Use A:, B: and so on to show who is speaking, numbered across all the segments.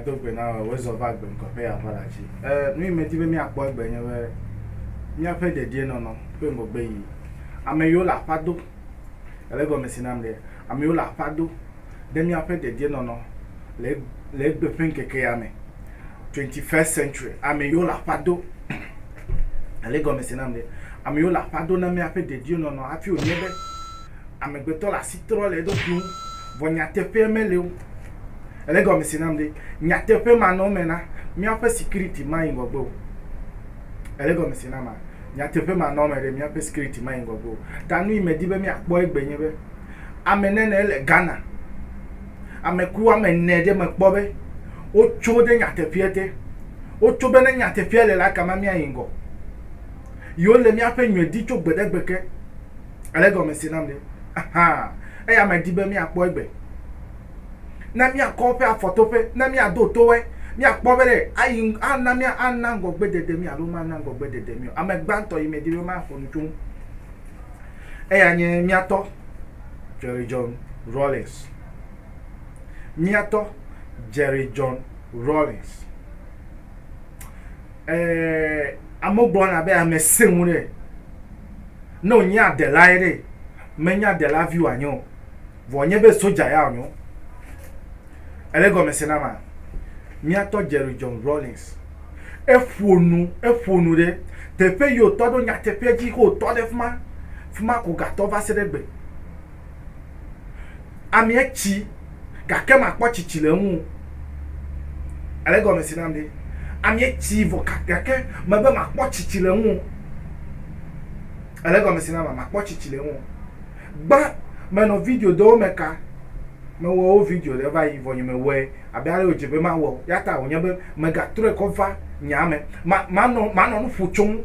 A: dogbe na wozɔ va gbe ŋkɔƒe aʋala dzi nu yi medi be míakpɔ egbe nye be míaƒe dedienɔnɔ ƒe ŋgɔgbe yi ame yiwo le aƒa do Ele egɔme si nam ɖe, amewo le aƒa do ɖe míaƒe dedienɔnɔ le le egbe ƒe ŋkeke ya me. Twenty first century, ame yiwo le aƒa do. Ele egɔme si nam ɖe, ame yiwo le aƒa do na míaƒe dedienɔnɔ hafi wònye be amegbetɔ le asi trɔ le eɖokui ŋu. Vɔ nyateƒea meli o. Ele egɔme si nam ɖe, nyateƒe manɔme na míaƒe sikiriti mayi ŋgɔgbe o. Ele gɔmese na ma. Nyateƒe ma nɔ eme ɖe míaƒe skiriti ma yi ŋgɔgbe o. Ta nu yi medi be míakpɔ egbe nye be ame nɛnɛ ele Ghana. Ame ku woame ene ɖe mekpɔ be wotso ɖe nyateƒea te. Wotso be ne nyateƒea le la kama míayi ŋgɔ. Yewo le míaƒe nyuie di tso gbe ɖe gbe ke. Ele gɔmese nam ɖe? Ahan. Eya medi be míakpɔ egbe. ne míakɔ eƒe afɔtoƒe, ne míado to wo, míakpɔ be ɖe ayi ana mía ana ŋgɔgbedede mí alo mana ŋgɔgbedede mí o. Ame gbãtɔ yi medi be maxɔ nu tso ŋu eya nye mía tɔ Jerry John Rawlings. Mía tɔ Jerry John Rawlings. Eh, amewo gblɔna be ame sẽ ŋu ɖe ne wònye adelae ɖe, menye adela vi wòanye o. Vɔ nye be soja ya wònyo. Ele gɔme se na ma? Míatɔ Jerry John Rawlings, eƒo nu, eƒo nu ɖe teƒe yi wòtɔ ɖo nyateƒea dzi xe wòtɔ ɖe fima, fima ko gatɔ va se ɖe egbe. Amea tsi gake makpɔ tsitsi le eŋu o. Ele gɔme se nam ɖe? Amea tsi vɔ gake mebe makpɔ tsitsi le eŋu o. Ele gɔme se na ma? Makpɔ tsitsi le eŋu o. Gbã menɔ video dowo me ka mewɔ wo video ɖe va yi vɔ nye me wɔe abe ale wodze be mawɔ o ya ta wonye be mega trɔe kɔ va nya me ma manɔ manɔ nu ƒo tsoŋ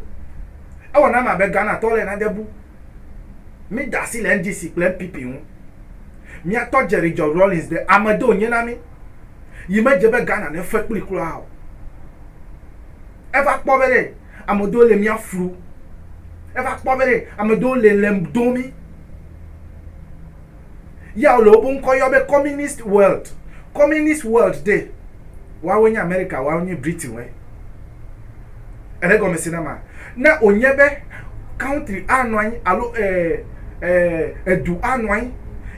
A: ewɔ nam abe Ghana tɔ le nade bu mi da asi le NDC kple NPP ŋu mia tɔ Jerry John Rawlings de ame do nye na mi yi me dze be Ghana ne fe kpli kura o eva kpɔ be ɖe Ame ɖewo le mía flu. Eva kpɔ be ame ɖewo le lem dom mí. Ya wole woƒe ŋkɔ yɔ be Communist World. Communist World ɖe, woawoe nye Amerika, woawoe nye Britainwoe. Ele gɔmese na ma? Ne wònye be country anɔ anyi alo e, e, edu anɔ anyi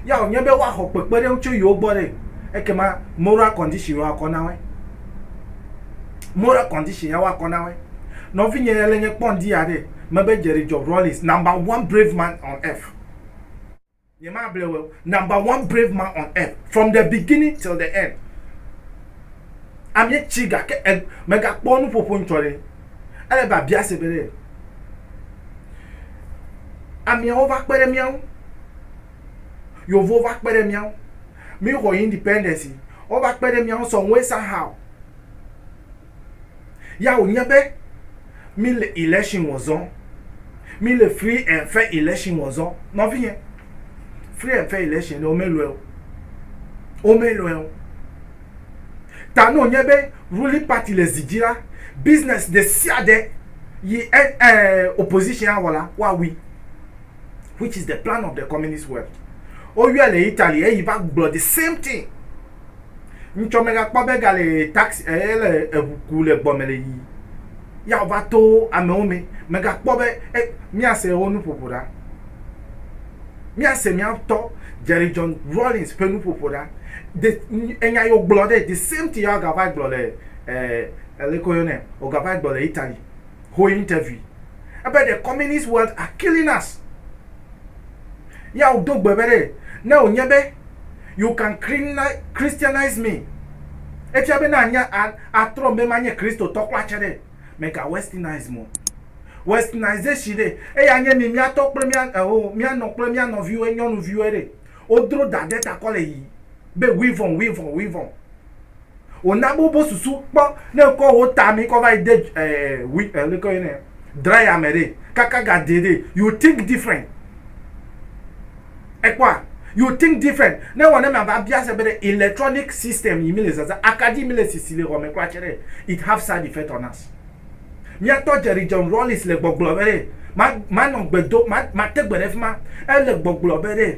A: ya wònye be woaxɔ kpekpeɖeŋu tso yewo gbɔ ɖe, ekema moral condition yewoakɔ na woe. moral condition ya woakɔ na woe. Nɔvinye ya le nye kpɔ ŋdi ya ɖe, mebe Jerry Job Rawlings, number one brave man on earth. Nye ma ble weo, number one brave man on earth, from the beginning till the end. Amie tsi gake e, me ga kpɔ nu ƒoƒo ŋtsɔ ɖe. Ele be abia se be ɖe, amiewo va kpe ɖe mía ŋu. Yevuwo va kpe ɖe mía ŋu. Míexɔ independence yi wova kpe ɖe mía ŋu some way somehow. Ya wònye be míle election wɔ zɔm. Míle free and fair election wɔ zɔm. Nɔvinye, free and fair election ɖe womelɔe o. Womelɔe o. Ta ne wònye be ruling party le zi dzi la, business ɖesiaɖe yi eh, opposition awɔ la, woawui. which is the plan of the communist world woyɔe le italy eyi va gblɔ the same thing ŋtsɔ megakpɔ be gale taxi ele eh, eʋu ku le gbɔme le yi ya va to amewo me megakpɔ be eh, míase wo nuƒoƒo ɖa míase míatɔ jerry john rollins ƒe nuƒoƒo ɖa de enya yo gblɔ ɖe the same thing ya gava gblɔ le eh, elekɔ yɔ nɛ ogava gblɔ le italy ho interview ebe the communist world are killing us ya wodo gbe be ɖe ne wònye be you can christianize me efia be na anya atrɔ be ma nye kristotɔ kura tse ɖe mega westernize mo westernization ɖe eya nye mi miatɔ kple mia eho eh, mianɔ kple mia nɔviwo nyɔnuviwo ɖe wodro da ɖe takɔ le yi be wivɔn wivɔn wivɔn Wòna be wobe susu kpɔ ne kɔ wo ta mi kɔ va yi de wi ɛ leke yɔ nɛ dryer me ɖe kaka ga de ɖe you think different. Ekpɔa you think different ne wɔ ne mia va bia se be ɖe electronic system yi mi le zazã akaɖi mi le sisi le xɔme kura tse ɖe it have side effect on us. Mia tɔ Jerry John Rawlings le gbɔgblɔ be ɖe ma ma nɔ gbe do ma ma te gbe ɖe fima ele gbɔgblɔ be ɖe.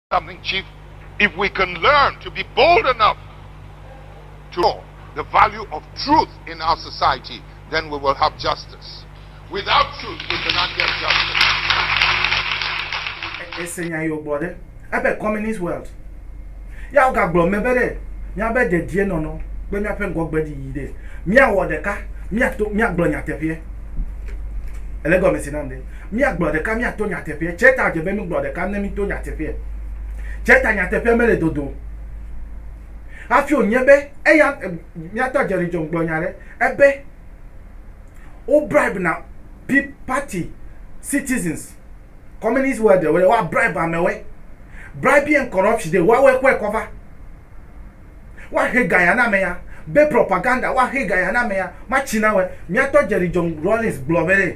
B: something chief if we can learn to be bold enough to know the value of truth in our society then we will have justice without truth we cannot get justice ese nya yɔ gbɔ ɖe
A: ebe communist world ya wo gagblɔ me be ɖe mía be dedie nɔnɔ kple mía ƒe ŋgɔgbe ɖi yi ɖe mía wɔ ɖeka mía to mía gblɔ nyateƒea ele gɔmesi nam ɖe Míagblɔ ɖeka míato nyateƒeɛ. Tsɛ ta dze be mígblɔ ɖeka ne míto nyateƒeɛ. Tsɛ ta nyateƒeɛ mele dodo o. Hafi wònye be eya míatɔ Jerry John gblɔ nya ɖe ebe wo bribe na pi party citizens communist world ɖe woɖe woa bribe amewɔe. Bribery and corruption ɖe woawɔe kɔe kɔva. woaxe gaya na amea be propaganda woaxe gaya na amea matsi na wɛ miatɔ jerry john rawlings gblɔ be ɖe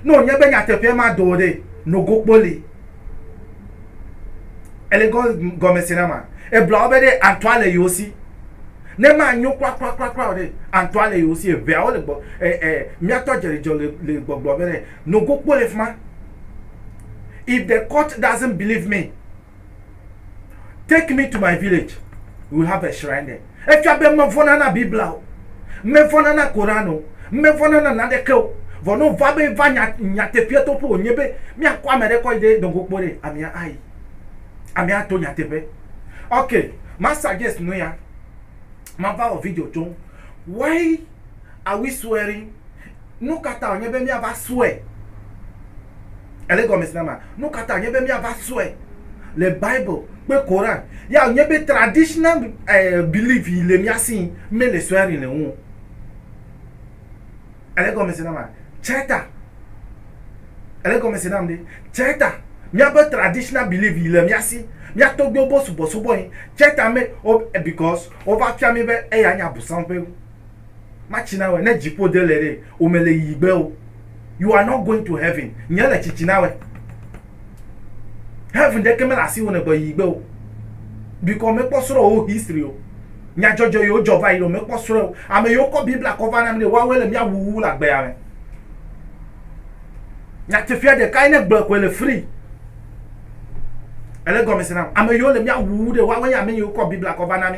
A: ne wònye be nyateƒea ma do o ɖe nogo kpoli ele gɔ gɔme se na ma ebla wo be ɖe antɔa le yewo si ne ma nyo kura kura kura kura o ɖe antɔa le yewo si eʋea wo le gbɔ ɛ ɛ miatɔ jerry john le le gbɔgblɔ be ɖe nogo kpoli fima if the court doesn't believe me Take me to my village. We have a shrine there. Efia be mevɔna na Biblia o. Mevɔna na Koran o. Mevɔna na naneke o. Vɔ ne wova be va nya nyateƒea toƒe wònye be míakɔ ame ɖe kɔ yi ɖe dɔngo kpo ɖe, amea ayi. Amea ato nyateƒe. Ok, ma suggest nu ya. Mava wɔ video tso ŋu. Why are we swearing? Nu ka ta wònye be míava srɔ̃e? Ele egɔme nama? Nu ka ta wònye be míava srɔ̃e le Bible kple Koran? Ya wònye be traditional belief yi le mía si mele swearing le ŋu o. Ele egɔme se nama? Tsɛ ta. Ele egɔme se nam ɖe? Tsɛ ta. Míaƒe traditional belief yi le mía si. Mía tɔgbuiwo bo subɔsubɔe. Tsɛ ta me, because wova fia mí be eya nye abosam ƒe. matsi na wɛ ne dziƒo de le ɖe o me le yi gbe o you are not going to heaven nye le tsitsi na wɛ heaven ɖe ke me le asi wo ne gbɔ yi gbe o bikɔ me kpɔ srɔ wo history o nyadzɔdzɔ yo dzɔ va yi ɖo me kpɔ srɔ o ame yo kɔ bibla kɔ va na mi ɖe wa wɛ le mia wuwu la gbe ame nyatefia ɖe kai ne gblɔ ko le free ele gɔmese na ame yo le mia wuwu ɖe wa wɛ ame yo kɔ bibla kɔ va na mi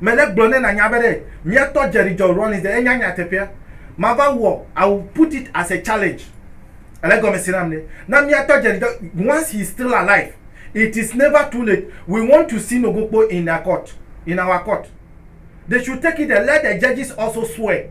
A: Mele gblɔ ne nanya be ɖe mia tɔ Jerry John Rawlings ɖe enya nya teƒea ma va wɔ I will put it as a challenge ele gɔme se nam ɖe na mia tɔ Jerry John once he is still alive it is never too late we want to see no gokpo in a court in our court they should take it there let the judges also swear.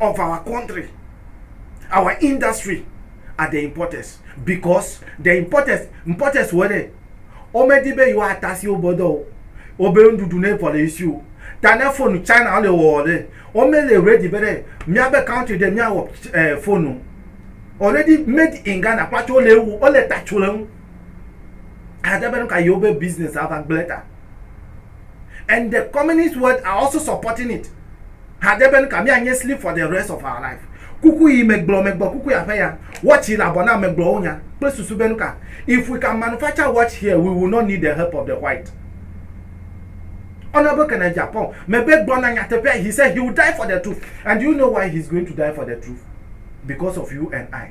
A: of our country, our industry are the importers because the importers importers wɔ ɖe womedi be yewoata si wobe dɔ o wobe nuɖuɖu ne vɔ le esi o ta ne fonu China le wɔwɔ ɖe womele ready be ɖe míabe country ɖe míawɔ eh, fonu already made in Ghana kpatso wole ewu wole tatso le ŋu ade be nu ka yewobe business ava gblẽ ta. and the communist world are also supporting it hade be nuka mianye sleep for the rest of our life kuku yi megblɔ megblɔ kuku ya ƒe ya watch yi le abɔ na megblɔwo nya kple susu be nuka if we can manufacture watch here we will not need the help of the white honorable kenneth japan mebe gblɔ na nyateƒea he said he will die for the truth and you know why he is going to die for the truth because of you and i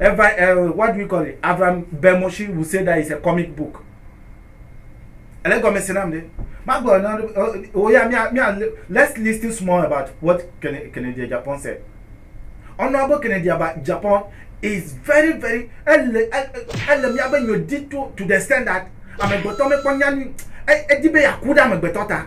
A: Eva, uh, what do we call it? Avram Bemoshi would say that it's a comic book. Ele gɔme se nam ɖe. Magblɔ na wo ya mia mia let's listen small about what Kennedy Japan said. Honorable Kennedy Japan is very very ele ele mia be nyo di to to the extent that amegbetɔ mekpɔ nyanu edi be yaku ɖe amegbetɔ ta.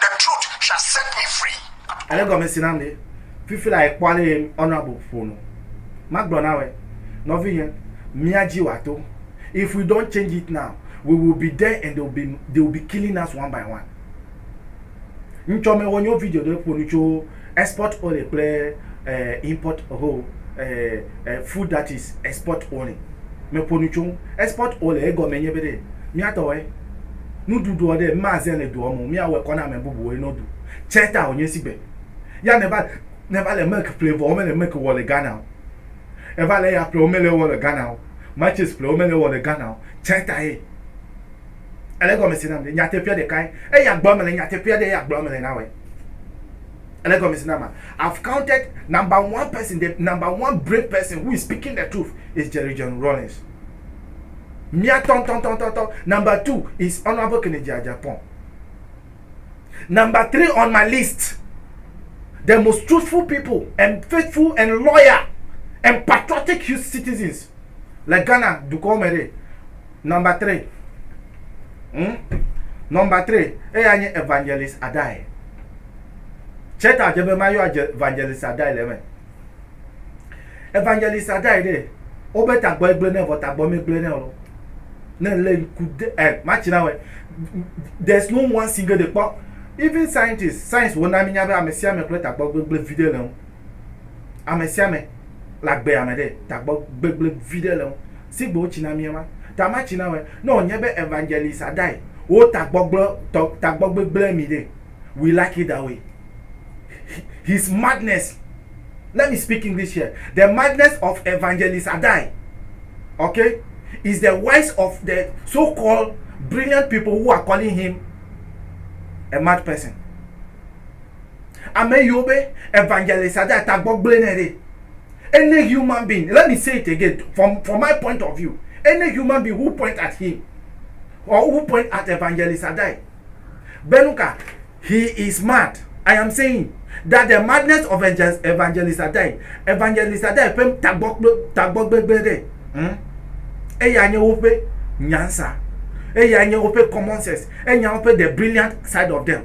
B: The truth shall set me free. Ele gɔme si nam
A: ɖe, fifi la ekpɔ ale ye ɔnɔ abo ƒo nu. Magblɔ nawɔe, nɔvinye, mía dzi wòato. If we don't change it now, we will be there and they will be, they will be killing us one by one. Ŋtsɔ mewɔ nyɔvideo ɖe ƒo nu tso Export only kple import ho food that is export only me ƒo nu tso ŋu. Export only egɔme nye be ɖe mía tɔ wɔe nuɖuɖuɔ ɖe ma ze le doɔ me o mía wɔ kɔ na ame bubu woe no ɖu tsɛ ta wo nye si gbe ya ne va ne va le milk ƒle vɔ wo me le milk wɔ le Ghana o e va le eya ƒle wo me le wɔ le Ghana o matches ƒle wo me le wɔ le Ghana o tsɛ ta ye. Ele egɔme si nam ɖe? Nyateƒea ɖekae. Eya gblɔm mele, nyateƒea ɖe eya gblɔm mele na wɔe. Ele egɔme si nama? I've counted number one person, the number one brave person who is speaking the truth is Jerry John Rawlings. Mia tɔn tɔn tɔn tɔn tɔn. Number two is Honorable Kennedy Agyapong. Number three on my list, the most truthful people and faithful and loyal and patriotic citizens le Ghana dukɔ me ɖe. Number three. Hmm? Number three, eya nye Evangelist Adai. Cheta dze be mayɔ Evangelist Adai le eme. Evangelist Adai ɖe, wobe tagbɔ egblẽ ne vɔ tagbɔ megblẽ ne ɔlɔ. Ne le ŋku de, eh, matsina wɛ. There's no one single de kpɔ. Even scientists, science wona minya be amesiame kple tagbɔ gbegblẽ viɖe le ŋu. Ame sia ame le agbe ame ɖe ta gbɔ gbegble viɖe le ŋu. Sigbe wotsi na mía ma, ta ma tsi na wɔe. Ne wònye be Evangelist Adai wo ta gbɔgblɔ tɔ ta gbɔ gbegble mi ɖe, we like it that way. His madness, let me speak English here, the madness of Evangelist Adai, okay, is the wise of the so called brilliant people who are calling him a mad person. Ame yiwo be evangelist ade ata gbɔgblẽ nɛ ɖe, any human being, let me say it again from, from my point of view, any human being who point at him or who point at evangelist Adai, be nu ka, he is mad. I am saying that the madness of evangelist Adai, evangelist Adai ƒe tagbɔgbegblẽ ɖe, hm, eya nye woƒe nyansa, eya nye woƒe common sense, enya woƒe the brilliant side of them.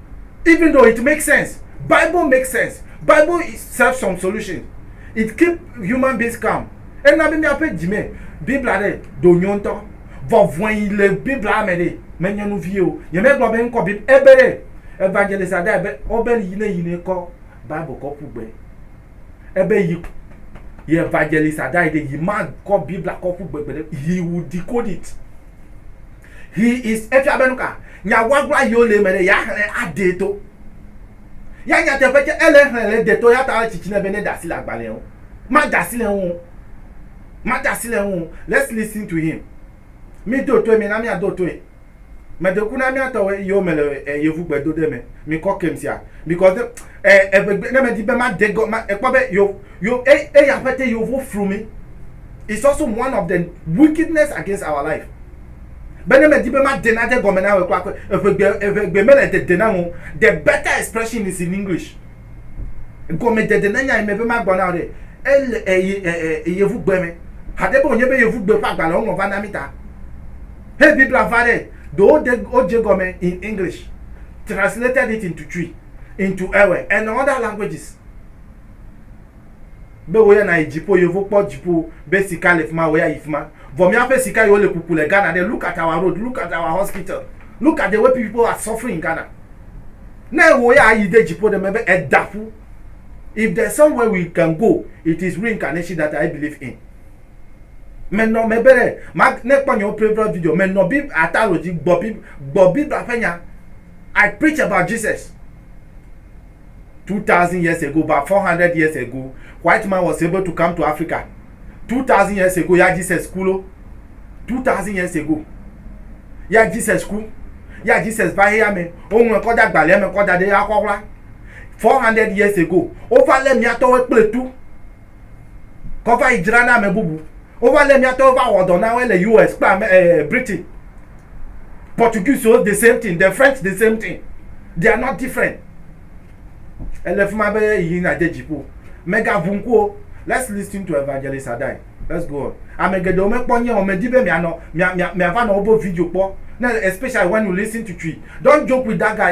A: even though it makes sense bible makes sense bible is serve some solution it keep human beings calm ena be míaƒe dzi me biblia ɖe do nyo ŋutɔ vɔvɔe yi le biblia me ɖe menye nu vie o nyemegblɔ be ŋkɔ bib ebe ɖe evangelist ada be ɔbe yi ne yi ne kɔ bible kɔ ƒu gbe ebe yi yi evangelist ada yi ɖe yi ma kɔ biblia kɔ ƒu gbe gbe ɖe he will decode it He is efia be nuka? Nya guagua yiwo le eme ɖe, yeaxlẽ aɖee to. Ya nyateƒe tsɛ, ele exlẽ le ede to eya ta ele tsitsi nɛ be neda asi le agbalẽa ŋu. Mada asi le eŋu o. Mada asi le eŋu o. Let's listen to him. Mido toe, mina míado toe. Medo ŋku na mía tɔwo yiwo me le e yevu gbedoɖe me. Mikɔ kem sia because ne e eŋegbe ne medi be made gɔ ma ekpɔ be yo yo e eyi aƒete yewo vo flu mi. is also one of the wickedness against our life be ne medi be made nade gɔme na ame kpakpe eʋegbe eʋegbe mele dede nam o the better expression is in english gɔmedede ne nya yi me be magbɔ na o ɖe ele eye eye yevugbe me hade be wònye be yevugbe ƒe agbalẽ woŋlɔ va na mi ta he biblia va ɖe do wode wodze gɔme in english translated it into twi into ewe and other languages Be wò ya nàyi dziƒo, yevo kpɔ dziƒo be sika le fima, wò ya yi fima. Vɔ míaƒe sika yi wole kuku le Ghana ɖe, look at our road, look at our hospital, look at the way people are suffering in Ghana. Ne wò ya ayi de dziƒo ɖe mebe eda ƒu. If there is somewhere we can go, it is reincarnation that I believe in. Me nɔ me be ɖe, ma, ne kpɔ nyewo previous video, me nɔ bib, ataro dzi, gbɔ bib, gbɔ bibla ƒe nya. I preach about Jesus. two thousand years ago about four hundred years ago white man was able to come to africa two thousand years ago ya jesus ku lo two thousand years ago ya jesus ku ya jesus va heya me woŋlɔ kɔ da gbalẽ me kɔ da ɖe ya kɔ ɣla four hundred years ago wova lé miatɔwo kple tu kɔ va yi dzra na ame bubu. Wova lé mía tɔwo va wɔ dɔ na woe le US kple ame eh, Britain. Portuguese the same thing, the French the same thing. They are not different. Ele fi ma be yi nadze dziƒo. Megaʋu ŋku o. Let's listen to Evangelist Adai. Let's go on. Ame geɖewo mekpɔ nye o, medi be mianɔ mia mia miava nɔ wobe video kpɔ. Ne especially when you listen to Chui. Don't joke with that guy.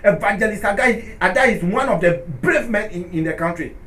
A: Evangelist Adai, Adai is one of the brave men in, in the country.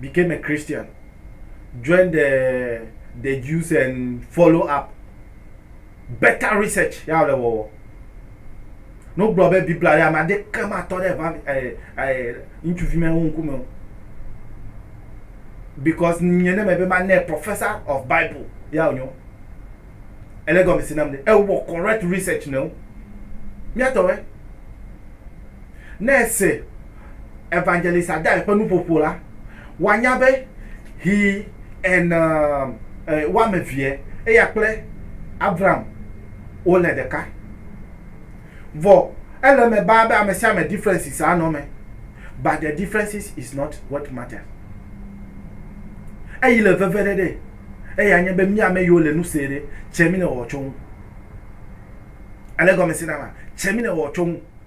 A: became a Christian, joined the, the Jews and follow up better research ya le wɔwɔ. Ne wogblɔ be Biblia ɖe ame ade ke matɔ ɖe va eh, eh, ŋutsuvi me wo ŋkume o. Because nye ne me be ma ne professor of Bible ya wonyo. Ele gɔme si nam de. Ewɔ correct research ne wo. Miatɔwɛ. Ne ese Evangelist Adair ƒe nuƒoƒo la, wòanya be he and um, eh, woame evee, eya kple Avram wole ɖeka. Vɔ ele eme baa be ame sia ame differences anɔ eme, but the differences is not what matters. Eyi le veveɖe ɖe, eya nye be mí ame yiwo le nu see ɖe, tse mí le wɔwɔ tso ŋu. Ele gɔme se na ma? Tse mí le wɔwɔ tso ŋu.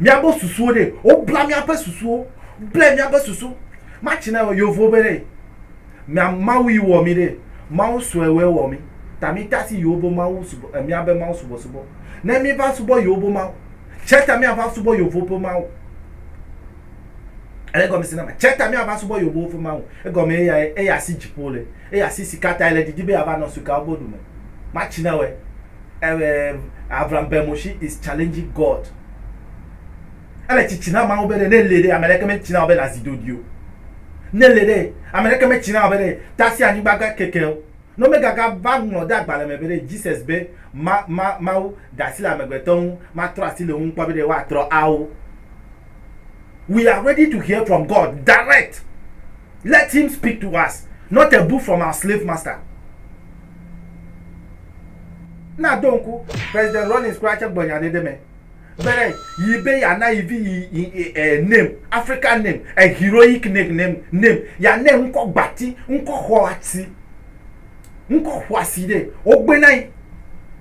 A: Miabe susuwo ɖe, wobla miaƒe susuwo, ble miaƒe susu. Matsi na wɔ yovo be ɖe, mia Mawu yi wɔ mi ɖe, Mawu sue wɔe wɔ mi, ta mi ta si yovo Mawu subɔ, miabe Mawu subɔ subɔ. Ne mi va subɔ yovo Mawu, tse ta mia va subɔ yovo ƒe Mawu. Ele gɔme se na ma? Tse ta mia va subɔ yovowo ƒe Mawu. Egɔme ye ya ye, eya si dziƒo le. eye asi si katae le didi be yeava nɔ sukawo bo ɖume matsi na wɛ ɛɛ avram bermoshi is challenging god ele tsitsi na mawu be ɖe ne li ɖe ameɖeke me tsi na wɔ be nazi dodi o ne li ɖe ameɖeke me tsi na wɔ be ɖe tasi anyigba ga keke o ne me gaga va ŋlɔ de agbalẽ me be ɖe jesus be ma ma mawu dasi le amegbetɔ ŋu ma trɔ asi le ŋu kpɔ be ɖe woa trɔ awo we are ready to hear from god direct let him speak to us not a book from our slave master. Na do ŋku President Rawlings kura tse gblɔ nya ɖe ɖe me be ɖe yi be yana yi vi yi yi yi ɛ name African name a heroic name name name yana ŋkɔ gbati ŋkɔ xɔ ati ŋkɔ xɔasi ɖe wogbe na yi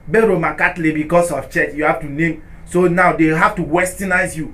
A: be Roman Catholic because of church you have to name so now they have to westernize you.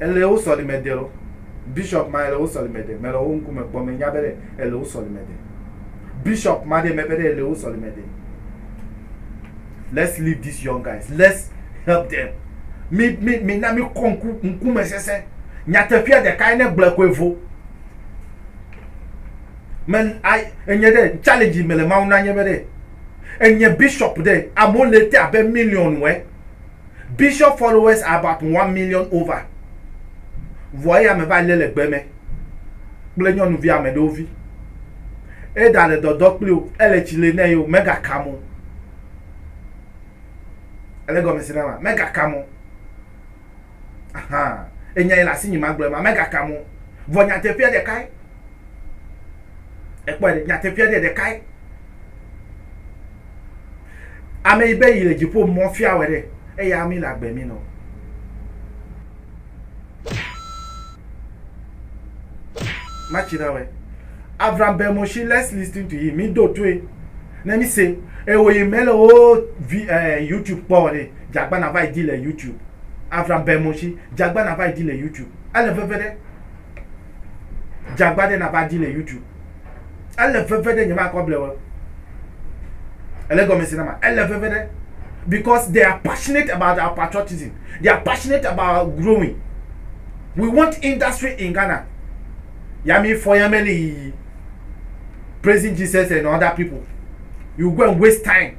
A: Ele wo sɔlime de lɔ. Bishop ma ele wo sɔlime de. Mele wo ŋkume kpɔ menya be ɖe ele wo sɔlime de. Bishop ma ɖe meƒe ɖe ele wo sɔlime de. Let's leave these young guys. Let's help them. Mi mi mi na mi kɔ ŋku ŋkume sese. Nyateƒea ɖeka ye ne gblɔe koe vo. Me ai enye ɖe challenge mele mawu na nye be ɖe enye bishop ɖe amewo le te abe million wɛ. Bishop followers are about one million over. Vɔ eya me va lé le gbe me kple nyɔnuvi ame ɖewo vi. Eda le dɔdɔ kpli o, ele tsi le nɛ o, mega kam o. Ele gɔme si na ma, mega kam o. Ahan, enya yi le asi nyi ma gblɔe ma, mega kam o. Vɔ nyateƒea ɖekae. Ekpɔe ɖe, nyateƒea ɖe ɖekae. Ame yi be yi le dziƒo mɔ fia wɔ ɖe, eya ami le agbe mi nɔ. Matsi na wɛ. Avram be Moshi, let's listen to him. Mi do toe. Ne mi se, ewo yi me le wo vi, eh, YouTube kpɔ wɔ ɖe, jagba na va yi di le YouTube. Avram be Moshi, jagba na va yi di le YouTube. Ele veve ɖe. Jagba ɖe nava di le YouTube. Ele veve ɖe nyemakɔ ble wo. Ele gɔme se na ma. Ele veve ɖe because they are passionate about our patriotism. They are passionate about growing. We want industry in Ghana. Yami Foyameli, Praising Jesus and other people. You go and waste time.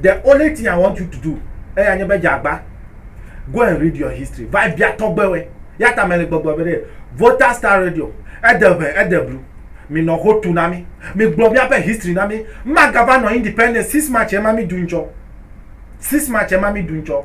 A: The only thing I want you to do eya nye be dzeagba go and read your history va bia tɔgbewe yata mele gbɔgblɔ be ɖe Volta Star Radio ede ʋe ede blu minɔ ho tu na mi migblɔ miaƒe history na mi magava nɔ independence six march ema mi du ŋtsɔ six march ema mi du ŋtsɔ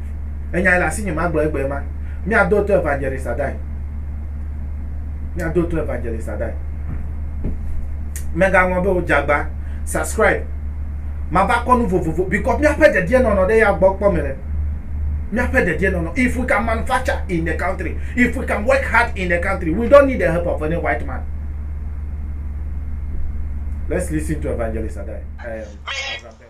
A: Enyae le asinye magblɔ egbee ma. Míado to Evangelist Adai. Míado to Evangelist Adai. Megaŋlɔ be o dzagba subscribe. Mava kɔ nu vovovo because míaƒe dedienɔnɔ ɖe ya gbɔ kpɔ me le. Míaƒe dedienɔnɔ. If we can manufacture in the country, if we can work hard in the country, we don't need the help of any white man. Let's listen to Evangelist Adai. Um,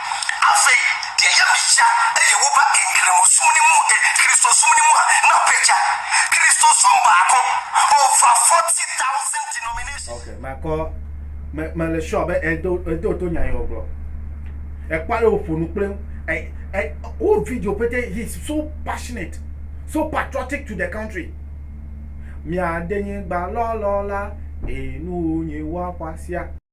C: Afei deɛ yɛ mi tsa eye wo ba enkiremo sumni mu e Kristo sumni mua na pe tsa. Kristo sum ba ko over 40,000 denominations. Ok,
A: makɔ, me, me le sure be edo, edo to nya yi wɔ gblɔ. Ekpɔ ale wòƒo nu kple ŋu. E, e, wo video pete, he is so passionate, so patriotic to the country. Mia de nyigba lɔlɔ la, e nu nyi wa xɔasia.